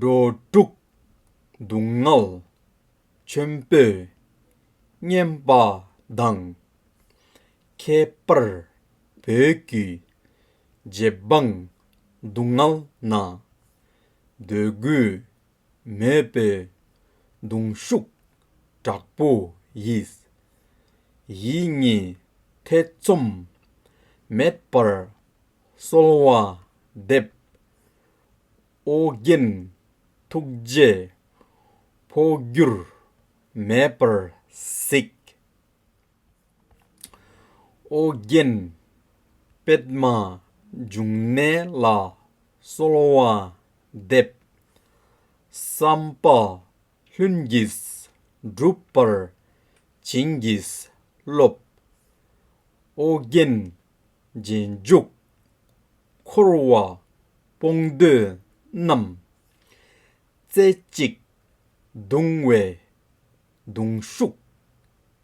འགྲོ་དྲུག། སྡུག་བསྔལ། ཆེན་པོས་བསྙེན་པ་དང། ཁྱད་པར་བོད་བརྒྱུད་རྗེ་འབངས་སྡུག་བསྔལ་ན། འདོད་དགུ་མེད་པའི་གདུང་ཤུགས་དྲག་པོ་ཡིས། ཡིད་གཉིས་ཐེ་ཚོམ་མེད་པར་གསོལ་བ་འདེབས། ཨོ་རྒྱན་ཐུགས་རྗེས་འཕོ་འགྱུར་མེད་པར་གཟིགས། ཨོ་རྒྱན་པདྨ་འབྱུང་གནས་ལ་གསོལ་བ་འདེབས། བསམ་པ་ལྷུན་གྱིས་འགྲུབ་པར་བྱིན་གྱིས་རློབས། ཨོ་རྒྱན་རྗེས་འཇུག། འཁོར་བ་སྤོང་འདོད་རྣམས། རྩེ་གཅིག་གདུང་བའི་གདུང་ཤུགས་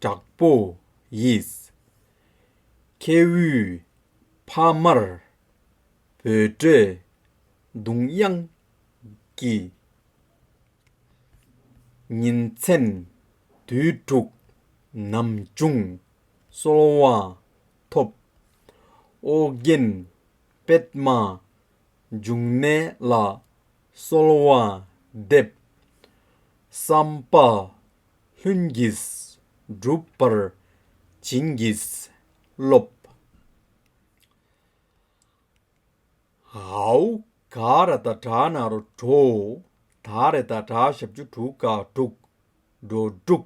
དྲག་པོ་ཡིས། ཁྱེའུའི་ཕ་མར་འབོད་སྒྲའི་གདུང་དབྱངས་ཀྱིས། ཉིན་མཚན་དུས་དྲུག་ནམ་བྱུང་གསོལ་བ་ཐོབ། ཨོ་རྒྱན་པདྨ་འབྱུང་གནས་ལ་གསོལ་བ་འདེབས། བསམ་པ་ལྷུན་གྱིས་འགྲུབ་པར་བྱིན་གྱིས་རློབས། ཧཱུྃ། གཱ་ར་ཏཱ་དྲག་ནཱ་རོ་དྲུག། དཱ་རེ་ཏཱ་དྲག་ཞབས་ཆུ་དྲུག་དཀར་དྲུག། འགྲོ་དྲུག།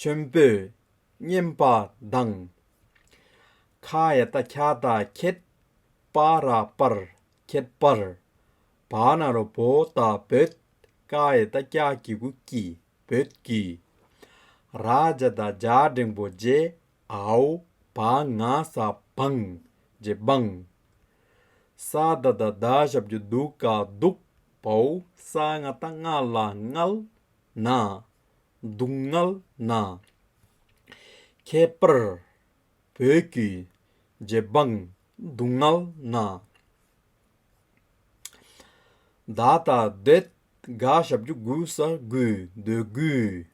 ཆེན་པོས་བསྙེན་པ་བདག། ཁ་ཡ་ཏཱ་ཁྱ་ཏཱ་ཁྱད། པ་ར་པར་ཁྱད་པར། བ་ན་རོ་བོ་ད་བོད། ཀ་ཡེ་ཏཱ་ཀྱ་ཀྱི་གུ་ཀྱི་བོད་ཀྱི། ར་བྱ་ཏཱ་བྱ་འབྲིང་པོ་རྗེ་ཨའོ་བ་ང་ས་བང་རྗེ་འབང། ས་ཏཱ་ཏཱ་ད་ཞབས་ཀྱི་གདུགས་ཀ་གདུགས་བོའུ་ས་ང་ཏཱ་ང་ལ་ངལ། ན། སྡུག་བསྔལ་ན། ཁྱད་པར་བོད་བརྒྱུད་རྗེ་འབངས་སྡུག་བསྔལ་ན། བདག་དང་དེ་དགའ་ཞབས་རྒྱུ་དགུ་ས་དགུའི་འདོད་དགུའི།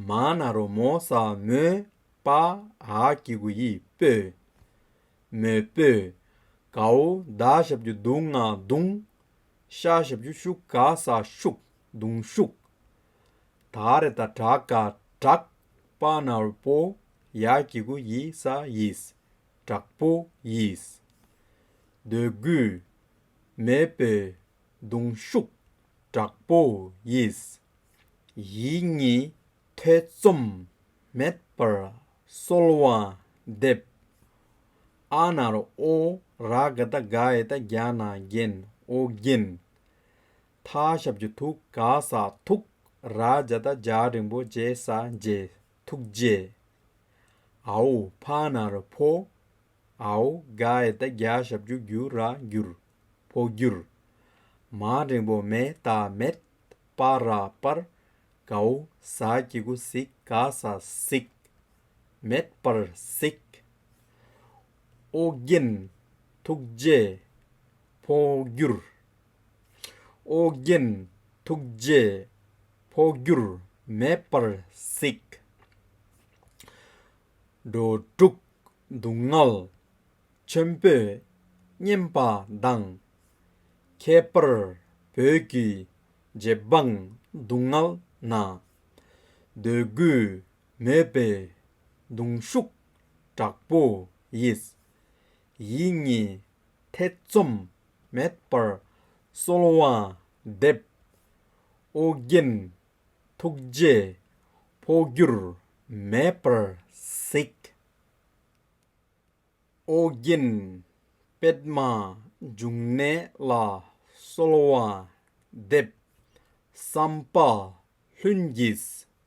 མ་ན་རོ་མོ་ས་མོའི་པ་ཧ་ཀྱི་གུ་ཡི་སྤོས། མོའི་སྤོས། གའུ་བདག་ཞབས་རྒྱུ་སྡུག་བསྔལ་སྡུག། ཤ་ཞབས་རྒྱུ་ཤུག་ག་ས་ཤུགས། གདུང་ཤུགས། དཱ་རེ་ད་དྲག་ག་དྲག། པ་ནོར་བུ་ཡ་གྱི་གུ་ཡི་ས་ཡིས། དྲག་པོ་ཡིས། འདོད་རྒུ། མེད་པའི་གདུང་ཤུགས། དྲག་པོ་ཡིས། ཡིད་གཉིས་ཐེ་ཚོམ་མེད་པར་གསོལ་བ་འདེབས། ཨ་ནར་ཨོ་ར་ག་ད་ག་ཨེ་ད་རྒྱ་ན་རྒྱན་ཨོ་རྒྱན། མཐའ་ཞབས་ཀྱི་ཐུགས་ཀ་ས་ཐུགས་རཱ་ཇ་ད་ཇཱ་རིན་པོ་ཇེ་ས་ཇེ་ཐུགས་རྗེ་ཨའོ་བྷ་ན་ར་བྷོ་ཨའོ་ག་ཨེ་ད་གྱ་ཞབས་ཀྱུ་གུ་ར་གུར་བྷོ་གུར་མ་རིན་པོ་མེ་ད་མེད་པ་ར་པར་གའུ་ས་ཀྱི་གུ་སིག་ག་ས་སིག་མེད་པར་སིག་ཨོ་རྒྱན་ཐུགས་རྗེ་བྷོ་གུར། ཨོ་རྒྱན་ཐུགས་རྗེས་འཕོ་འགྱུར་མེད་པར་གཟིགས། འགྲོ་དྲུག་སྡུག་བསྔལ་ཆེན་པོས་བསྙེན་པ་དང། ཁྱད་པར་བོད་ཀྱི་རྗེ་འབངས་སྡུག་བསྔལ་ན། འདོད་རྒུ་མེད་པའི་གདུང་ཤུགས་དྲག་པོ་ཡིས། ཡིད་གཉིས་ཐེ་ཚོམ་མེད་པར་གསོལ་བ་འདེབས། ཨོ་རྒྱན་ཐུགས་རྗེས་འཕོ་འགྱུར་མེད་པར་གཟིགས། ཨོ་རྒྱན་པདྨ་འབྱུང་གནས་ལ་གསོལ་བ་འདེབས། བསམ་པ་ལྷུན་གྱིས་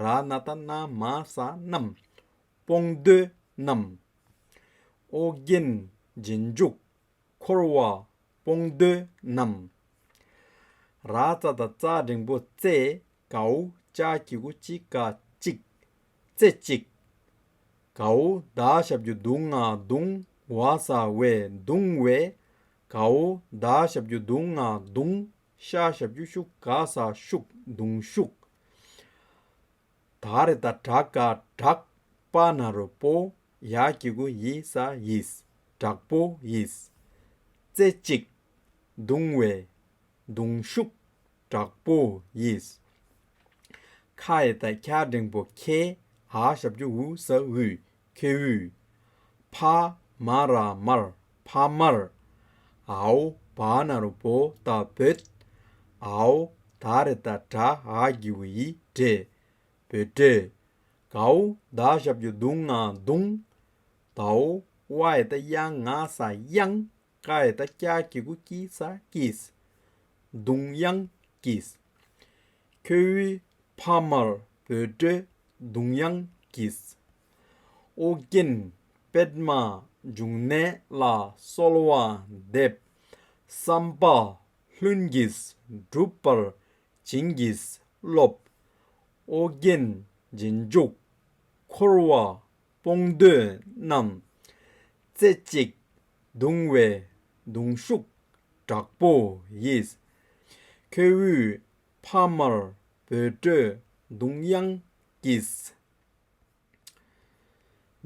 ར་ནཱ་ད་ན་མ་ས་རྣམས། སྤོང་བསྡུ་རྣམས། ཨོ་རྒྱན་རྗེས་འཇུག་འཁོར་བ་སྤོང་བསྡུ་རྣམས། ར་རྩ་དང་རྩ་འབྲིང་པོ་རྩེ་གའུ་ལྕགས་ཀྱི་ཁུ་གཅིག་དཀའ་གཅིག། རྩེ་གཅིག། གའུ་བདག་ཞབས་ཀྱི་གདུང་ལྔ་གདུང་བ་ས་བའི་གདུང་བས་གའུ་བདག་ཞབས་ཀྱི་གདུང་ལྔ་གདུང་ཤ་ཞབས་ཀྱུ་ཤུག་དགའ་ས་ཤུག་མདུང་ཤུག། ད་རེ་ད་དྲག་དགའ་དྲག། པ་ན་རོ་པོ་ཡ་ཀྱི་གུ་ཡི་ས་ཡིས་དྲག་པོ་ཡིས། རྩེ་གཅིག། མདུང་བས། མདུང་ཤུག། དྲག་པོ་ཡིས། ཁ་ཡེ་ད་ཁྱ་འབྲེང་པོ་ཁྱེད་ཧ་ཞབས་ཀྱུ་འུ་ས་འུ་ཁྱེའུ། ཕ། མ་ར་མར། ཕ་མར། ཨའོ། བ་ན་རུ་བོ་ད་བོད། ཨའོ། ད་རེ་ད་གྲ་ཨ་གི་བི་ཡི་བྲེ། བོད་བྲེ། གའུ། ད་ཞབས་ཀྱི་དུང་ང་དུང། དའོ། བ་ཨེ་ད་དབྱངས་ང་ས་དབྱང། ཀ་ཨེ་ད་སྐྱ་གི་གུ་ཀི་ས་ཀིས། དུང་དབྱངས་ཀིས། ཁྱོའི་ཕ་མར་འབོད་སྒྲའི་གདུང་དབྱངས་ཀྱིས། ཨོ་རྒྱན་པདྨ་འབྱུང་གནས་ལ་གསོལ་བ་འདེབས། བསམ་པ་ལྷུན་གྱིས་འགྲུབ་པར་བྱིན་གྱིས་རློབས། ཨོ་རྒྱན་རྗེས་འཇུག་འཁོར་བ་སྤོང་འདོད་རྣམས་རྩེ་གཅིག་གདུང་བའི་གདུང་ཤུགས་དྲག་པོ་ཡིས། ཁྱོད་དབུས་ཕ་དམར་བོད་སྤྲོད་གདུང་དབྱངས་ཀྱིས།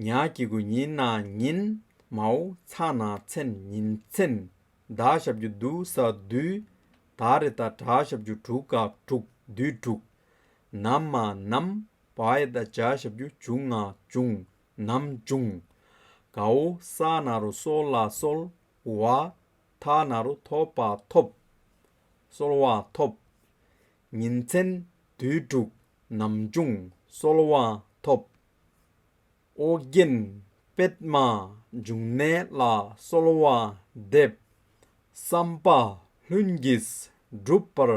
ཉག་གི་དགུན་ཉིན་ན་ཉིན་མའོ་ཚ་ན་ཚན་ཉིན་ཚན་ཟླ་ཞབས་བཅུ་བསྡུ་ས་བསྡུ། ད་རེ་ད་གྲ་ཞབས་བཅུ་དྲུག་ག་དྲུག་བསྡུས་དྲུག། ནམ་མ་ནམ་བའི་བཟླས་བྱ་ཞབས་ཀྱུ་འབྱུང་ལྔ་འབྱུང། ནམ་འབྱུང། གའུ་ས་ན་རུ་གསོལ་ལ་གསོལ། བ་ཐ་ན་རུ་ཐོབ་པ་ཐོབ། གསོལ་བ་ཐོབ། ཉིན་མཚན་དུས་དྲུག་ནམ་འབྱུང་གསོལ་བ་ཐོབ། ཨོ་རྒྱན་པདྨ་འབྱུང་གནས་ལ་གསོལ་བ་འདེབས། བསམ་པ་ལྷུན་གྱིས་འགྲུབ་པར་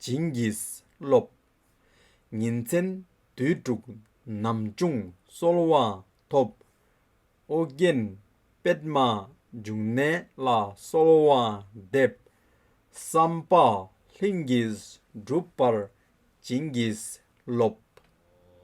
བྱིན་གྱིས་རློབས། ཉིན་མཚན་དུས་དྲུག་ནམ་བྱུང་གསོལ་བ་ཐོབ། ཨོ་རྒྱན་པདྨ་འབྱུང་གནས་ལ་གསོལ་བ་འདེབས། བསམ་པ་ལྷུན་གྱིས་འགྲུབ་པར་བྱིན་གྱིས་རློབས།